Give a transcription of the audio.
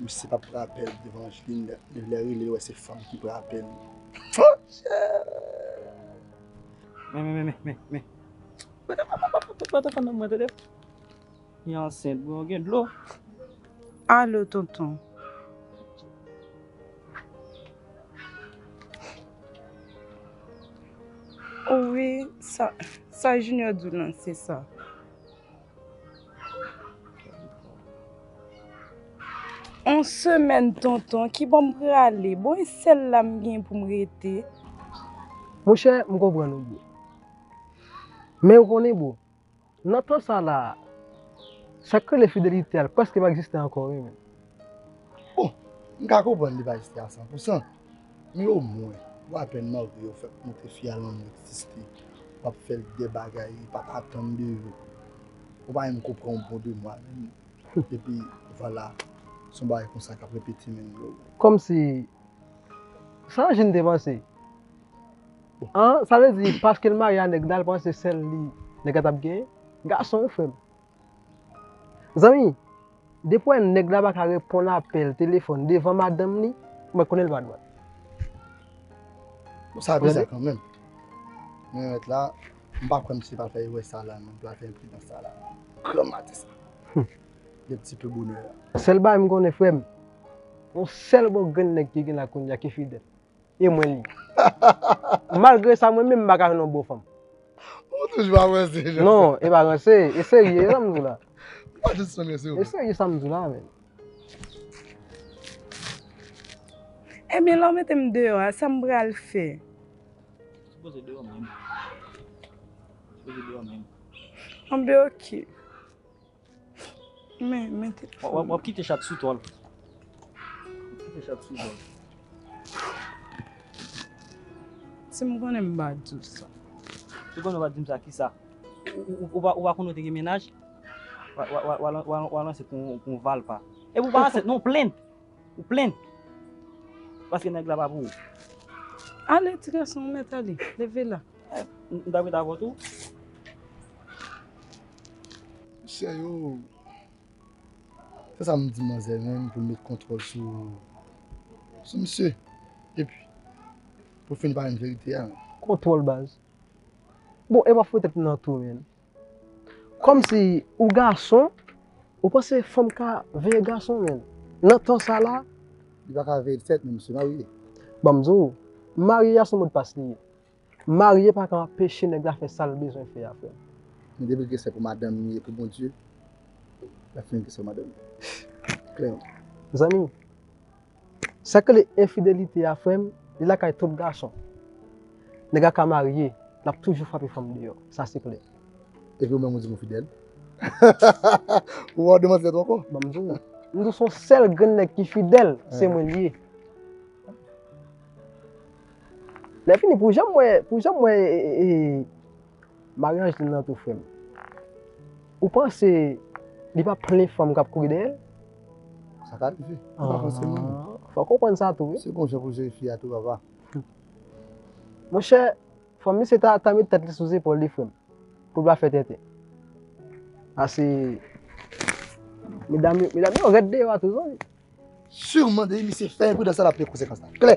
Misye pap pran apèl devan Angeline li lè rele wè se fanm ki pran apèl ooh. On semèn tonton, ki bò m prale? Bon e sèl la m gen pou m rete? Monchè, m konprann ou bro. Men ou konnen bro, nan tan sa la a, sa k rele fidelite a prèske pa egziste ankò wi menn. Bon, m ka konprann li pa egziste a san pou san. Men o mwen ou apèn marye ou fèk montre fi a lanmou egziste wap fèl de bagay li pat atann de ou ou pa menm konprann ou bon de mwa menm epi vwala son bagay konsa kap repete menm bro. Kòmsi Sa Angeline te panse an sa vle di paskel marye a nèg la li panse sèl li nèg la tap genyen gason wi frèm Zanmi, depi w wè nèg la pa ka reponn apèl telefòn devan madanm li, mwen konnen l pa dwat. Bon, sa bizar kanmenm. Mwen wè la, m pa kwè misye pral fè erè sa la non, pral fè enpridans sa la non. Gran madi sa. Gen ti peu bonè la. Sèl bagay m konnen frè m, yon sèl bon grenn nèg ki gen la kounye a ki fidèl. E mwen li. Malgre sa mwen menm m pa ka jwenn yon bon fanm. Ou toujou ap ranse Jean. Non, e pa ranse, e serye sa m di w la. Ou pa jis sonnen se ou. E serye sa m di w la menm. Ebyen lè w mete m deyò a, sa m pral fè? Ou sipoze deyò menm. Ou sipoze deyò menm. Anben ok. Wap kite chat sou tòl. Si m konnen m pa di w sa. Si w konnen w pa di m sa, kisa? Ou pa konnen w te gen menaj? Ou al ansent pou yon valpa. Epi w pa ansent non, ou plenn. Ou plenn. Paske nèg la pa pou ou. Ale ti gason, ou mèt ale. Leve la. M ta kwit avèw tou. Mesye yo Fè sa m di manzè menm pou l met kontwòl sou sou misye epi pou l fin pale m verite a. Kontwòl baz. Bon e wap fouye tèt m nan tou menn. Kòmsi ou gason ou panse fanm ka veye gason menn nan tan sa la. Li pa ka veye l sèt men misye marye. Banm di w, marye a se modpas li ye. Marye paka anpeche nèg la fè sal bezwen fè a frèm. Men depi ke se pou madanm li ye pou Bondye lap fini kesyon madanm li klèman. Mezanmi sak rele enfidelite a frèm li lakay tout gason nèg la ka marye lap toujou frape fanm deyò sa se klè. Epi ou menm ou di m ou fidèl? Ou wè ou demanti tèt ou ankò? Banm di w, m di w son sèl grenn nèg ki fidèl se mwen li ye. Lèfini pou janm wè pou janm wè Marie Angeline nan tou frèm ou panse li pa plen fanm kap kouri dèyèl? Sa ka rive. Ou pa panse menm. Fòk ou konprann sa tou wi. Se gonjan pou jwenn fi a tou papa. Monchè, fò misye ta ta met tèt li sou zepòl li frèm, pou l pa fè tenten. Pase medam yo medam yo rèd deyò a tou zanmi. Sûrement depi misye fè enpridan sa lap peye konsekans la. Klè!